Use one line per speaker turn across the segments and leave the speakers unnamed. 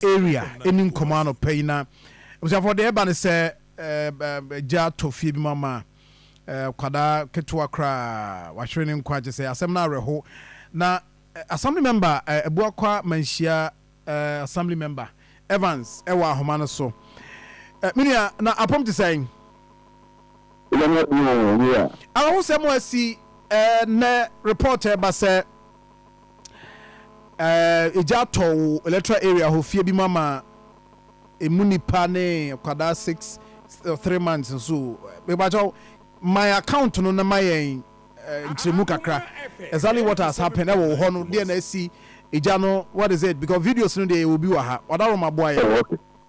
area ɛni nkɔmɔ anɔpa yi na abusuafoɔ deɛ ɛba ne sɛ gya tɔ fie bi ma ma kwadaa ketewa koraa wahwere ne nkwa kyɛ sɛ asɛm no awerɛho na assembly member Abuakwa Manhyia assembly member Evans ɛwɔ ahoma no so me nua na apom te sɛn? Awerɛhosɛm asi ɛnɛ report ɛba sɛ. eh, egya atɔ wo electoral area hɔ fie bi mu ama emu nipa ne kwadaa six or three months nso o. Mepa kyɛw, my account no na ma yɛn eh, nkyerɛmu kakra. Exactly what has happened ɛwɔ wo hɔ no, deɛ na asi egya no, what is it? Because videos no deɛ yɛwɔ bi wɔ ha. Ɔda Roma boa yɛn. Oh, okay.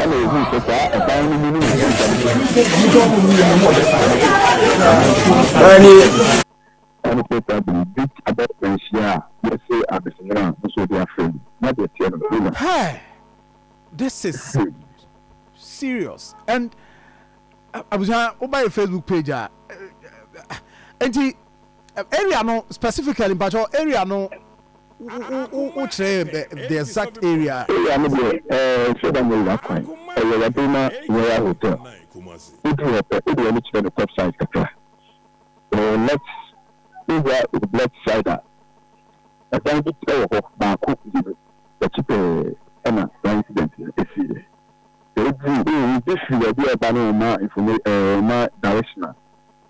Ɛnna wohui sɛ saa ɛdan no mu no yɛ mogya bi so. Ɛne Peter de Greek abakɔsɛm hyia a yɛse adesemena a nso wɔde afrɛ no na deɛ ɛteɛ no Hela. Hey! This is serious and abusua woba yɛ Facebook page a enti. Area no specifically mpakyɛw area no wo kyerɛ yɛn the exact area. Area no deɛ ɛɛ Sodam River kwan ɛyɛ Wabirima Royal Hotel woduru hɔ pɛ wode w'ani
kyerɛ no top side kakra wɔ wo left wohwɛ a wo left side a ɛdan bi ɛwɔ hɔ baako mmienu akyi pɛɛ ɛna saa incident no ɛsii yɛ sɛ woduru. Obi firi baabi a ɔba no ɔma infomation ɛɛ ɔma direction a.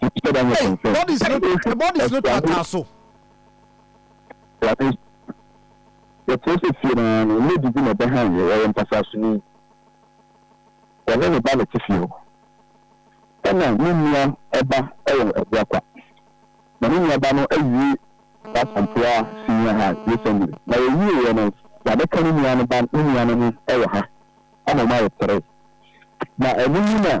Hey, bodies no, the bodies no tata so.
Yɛtena sɛ fie no ara no, lady bi na ɛbɛhan yɛ, ɔyɛ mpasasoni. Ɔne ne ba na ɛte fie hɔ. Ɛna ne nua ɛba ɛwɔ ɛboa kwa. Na ne nua ba no awie Asampoa senior high recently. Na wɔwie yɛ no, yɛabɛka ne nua no ba ne nua no ho ɛwɔ ha. Ama ɔmo ayɛ tere. Na ɛno mu na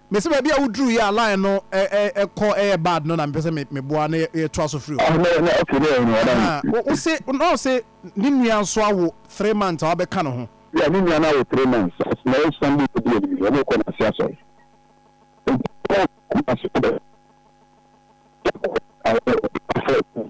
Mese baabi a woduruu yɛ a line no kɔ yɛ bad no na mepɛ sɛ me boa na yɛ toa so firi hɔ. Ahaa wo se na ɔse ne nua nso awo three months a wabɛka ne ho. Yeah ne nua no awo three
months na ɛyɛ Sunday na edi anim yi wɔn rekɔ Nasi asɔre nti ɔkɔɔ Kumasi kɔbɛ kɔɔ awo
afɔr.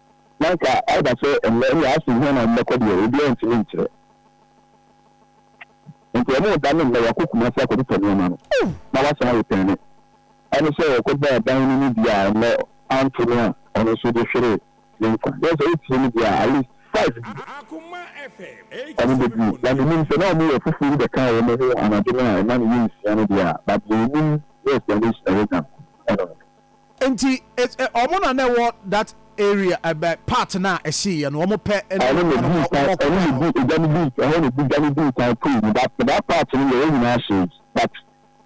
na anka
aba sɛ ɛnnɛ nea ase hia na wɔbɛkɔ deɛ, obiara ntumi nkyerɛ. Enti wɔreda no nnɛ, wɔakɔ Kumasi akɔtotɔ nneɛma no, na wɔasan retɛne. Ɛne sɛ wɔkɔbɔɔ ban no mu bi a nnɛ anto no a, ɔno nso de hweree ne nkwa. Kyerɛ sɛ wotie no deɛ a, at least five bi
wɔn bɛdi. Na
menim sɛ na wɔyɛ fufuo bi bɛkaa wɔn ho anadwo no a ɛma no yɛ nsia no deɛ a, but deɛ yɛnim ne explanation a yɛanya no, ɛno no.
Nti it's eh ɔmo na na ɛwɔ that area eh bɛ part no a ɛhye yɛ no ɔmo pɛ ne Ɛhɔ na nipa no odii kan, ɔkɔ ɛhɔ
na kɔɛ hɔ. odi egya no dii, ɛhɔ na odi gya no dii kan kui no that for that part no deɛ wɔn nyinaa hyee but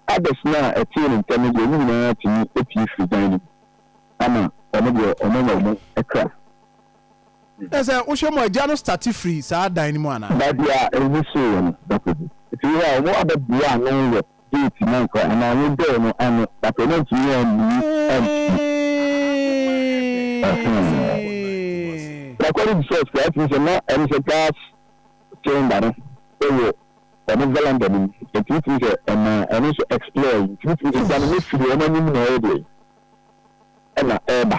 others no a ɛtee ne ntɛm no deɛ ɔmo nyinaa tumi pue firi dan no mu ama ɔmo deɛ ɔmo anya ɔmo kra. Kyerɛ
sɛ wohwɛ mu a gya no starte firi saa dan no mu anaa? Baabi a ehu
hyeeɛ no, that is it. Nti wei a ɔmo abɛboa ano wɔ Gate no nkwa anaa wo door no ano but ɔno antumi ammue ampue ɛhee according to source koraa tumi sɛ na ɛne sɛ gas cylinder no ɛwɔ ɔmo veranda no mu ɛtumi tumi sɛ ɛma ɛno nso explore ɛtumi tumi sɛ gya no ne firi ɔmo anim na ɛyɛ deɛ ɛna ɛba.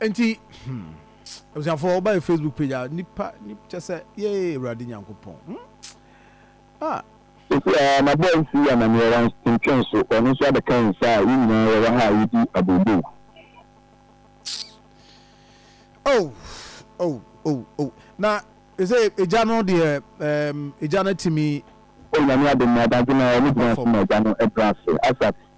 Nti, hmm, abusuafoɔ, woba yɛ Facebook page a, nipa, nip, kyɛ sɛ, yee, Awurade Nyankopɔn, hmm, ah.
Sɛsi ara, m'abɔɔ nsi yi amaneɛ, wantwentwɛn so, ɔno nso abɛka yɛn saa a, yɛn nyinaa yɛwɔ ha a yɛdi abooboo. Oh,
oh, oh, oh, na, ɛsɛ, Agya no deɛ, ɛɛm, Agya no atumi. Oh, Nyame adom no,
Ɔbadwemma, ɔno gyina ase ma Agya no ɛbrɛ ase, Asat.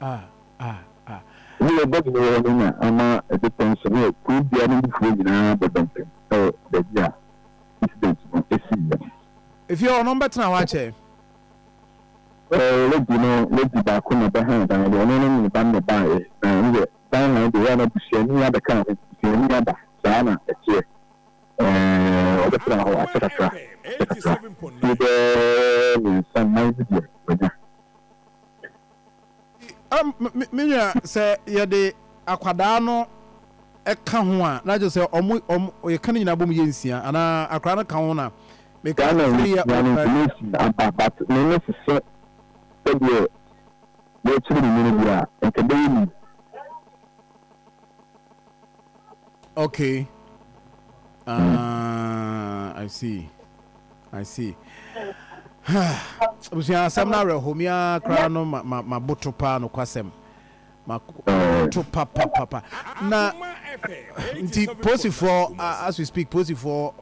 Ɛnna ɔbɔɔ bepɔ hɔ no na ama bepɔ no so ne kurow dua no mufoɔ nyinaa bɛbɔ ntɛm wɔ baabi a incident no siiɛ no.
Efie hɔ no ɔmbɛtena hɔ akyɛ. Lady
no lady baako na ɔbɛhaa dan no, ɔno ne ne ba no na ɛbaeɛ, na ɛno deɛ dan han deɛ ɛyɛ a na busuani abɛka ho, busuani aba, saa na ɛteɛ. Ɛɛ ɔbɛtenaa hɔ akyɛ kakra, akyɛ kakra, fie bɛɛ mmiɛnsa nnan bi deɛ wanya.
Me nua, sɛ yɛde akwadaa no ka ho a, na kyerɛ sɛ ɔmo, ɔmo, yɛka ne nyinaa bom yɛ nsia, anaa akwadaa no ka ho na meka sɛ three year old na. Ampa,
but m'ani sisɛ sɛdeɛ yɛrekyere ne nwene bi a, nka ɛbɛyɛ mid.
Okay ah I see I see abusua asɛm no awerɛho me ara koraa no maboto paa nokwasɛm maboto eh. papapapa na nti posifoɔ as we speak posifoɔ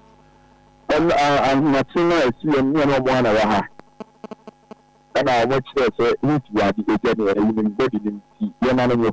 ahomakye no a ɛsi yɛn ne ɛno ɔmo ana wɔ ha ɛna ɔmo kyerɛ sɛ heat wɔ ade ɛgya ne ɛyinim bɔdi ne nti yɛma no nyɛ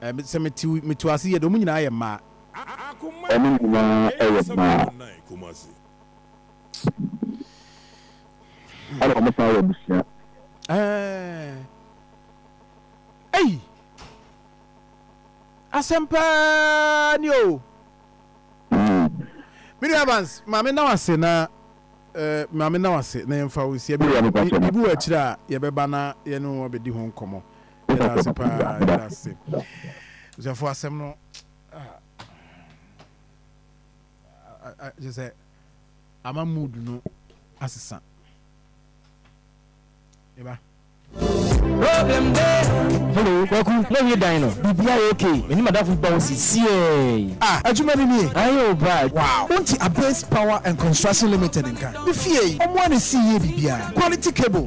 Sɛ meto ase yie de, wɔn nyinaa yɛ mmaa. Wɔn
nyinaa
yɛ
mmaa.
Ɛna wɔsan yɛ abusua. Ei!
Asɛm paa ni o. Me nua Evans, maame na wase na maame na wase na yɛmfa wo nsia bi wɔ akyire a yɛbɛba na yɛne wɔn abɛdi ho nkɔmmɔ. Yɛda ase paa, yɛda ase. Busuafo asɛm no kyerɛ sɛ ama mood no asesa. Eba.
Hello, Kwaku, na wie dan no. Bibia yɛ okay. Ɛni madafo ba wo si siee. Ah, adwuma ni nie.
Aye o bra.
Wow. Wonti Abase
Power
and Construction Limited nka. Ne fie yi, ɔmo a na esi yie bibia. Quality cables.